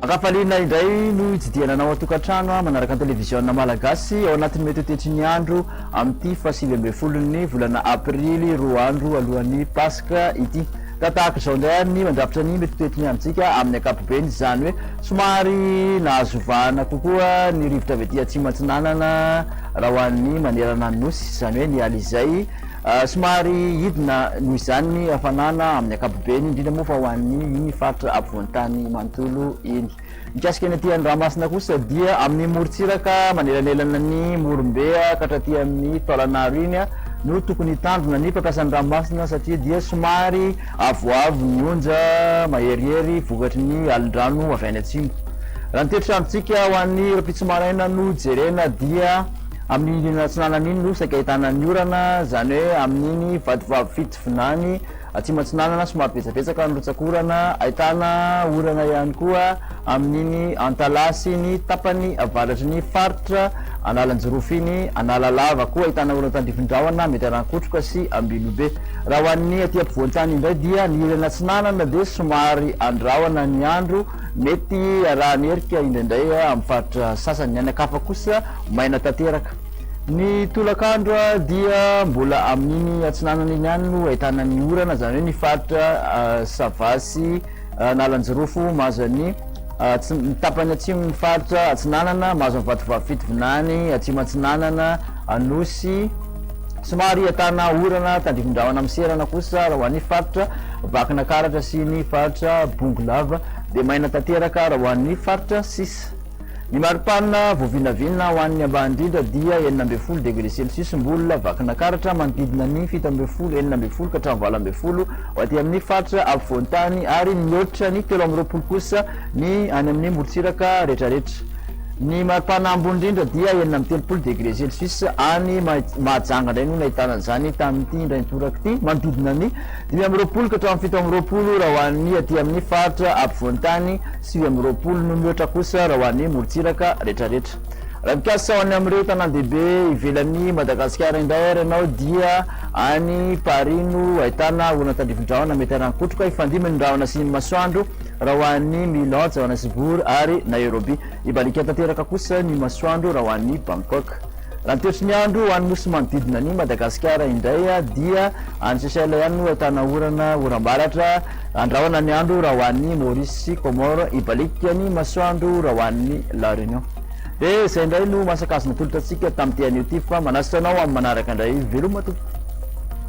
Ankafaliana indray no hitsidihana anao an-tokantrano ah, manaraka ny televiziona malagasy ao anatin'ny mety hotetry ny andro amin'ity fahasivy ambin'ny folon'ny volana aprily roa andro alohan'ny paska ity. Ka tahaka izao indray ary ny mandrafitra ny mitoetoetony amintsika amin'ny ankapobeny, izany hoe somary nahazo vahana kokoa ny rivotra avy aty Atsimo Atsinanana raha ho an'ny manerana ny Nosy, izany hoe ny Alizay. Somary hidina noho izany ny hafanana amin'ny ankapobeny, indrindra moa fa ho an'ny iny faritra afovoan-tany manontolo iny. Mikasika ny aty Andramasina kosa dia amin'ny morontsiraka manelanelana ny Morombe ka hatraty amin'ny Taolanaro iny no tokony hitandrina ny mpampiasa ny ranomasina satria dia somary avoavo ny onja maherihery vokatry ny alin-drano avy any atsimo. Raha ny toetrandrontsika ho an'ny rahampitso maraina no jerena dia amin'iny atsinanana iny no saika ahitana ny orana izany hoe amin'iny vadivavy fito vinany Atsimo Atsinanana somary betsabetsaka ny rotsak'orana, ahitana orana ihany koa amin'iny Antalaha sy ny tapany avaratry ny faritra Analanjirofo iny, Analalava koa ahitana orana tandrifindrahona mety Arankotroka sy Ambilobe. Raha ho an'ny aty ampovoan-tany indray dia ny ilany atsinanana dia somary andrahona ny andro, mety harahan'erika indraindray amin'ny faritra sasany, ny any an-kafa kosa maina tanteraka. Ny tolakandro dia mbola amin'iny atsinanana iny ihany no ahitana ny orana, izany hoe ny faritra Sava sy Analanjirofo mahazo an'ny atsi- ny tapany atsimon'ny faritra atsinanana mahazo an'i Vatovavy Fitovinany, Atsimo Atsinanana, Anosy, somary ahitana orana tandrifindrahona miserana kosa raha ho an'ny faritra Vakinakaratra sy ny faritra Bongolava dia maina tanteraka raha ho an'ny faritra sisa. Ny maripana voavinavina ho an'ny ambany indrindra dia enina ambin'ny folo degre celsius mbola vakina karatra manodidina ny fito ambin'ny folo, enina ambin'ny folo ka hatramin'ny valo ambin'ny folo ho aty amin'ny faritra afovoan-tany ary mihoatra ny telo amby roapolo kosa ny any amin'ny morontsiraka rehetrarehetra. Ny maripana ambony indrindra dia enina amby telopolo degre celsius any Mahajanga indray no nahitana an'izany tamin'ity indray mitoraka ity, manodidina ny dimy amby roapolo ka hatramin'ny fito amby roapolo raha ho an'ny aty amin'ny faritra afovoan-tany. Sivy amby roapolo no mihoatra kosa raha ho an'ny morontsiraka retraretra. Raha mikasa ho any amin'ireo tanàndehibe ivelan'i Madagasikara indray ary ianao dia any Paris no ahitana olona tandrifin-drahona mety harangokotroka hifandimby ny rahona sy ny masoandro raha ho an'i Milan, Johannesburg ary Nairobi. Hibaliaka tanteraka kosa ny masoandro raha ho an'i Bangkok. Raha ny toetry ny andro any nosy manodidina an'i Madagasikara indray dia any Seychelles ihany no ahitana orana, oram-baratra, andrahona ny andro raha ho an'i Maurice sy Comores, hibaliaka ny masoandro raha ho an'i La Réunion. Dia izay indray no maha-sakajy natolotra antsika tamin'ity anio ity fa manasitra anao amin'ny manaraka indray, veloma tompoko.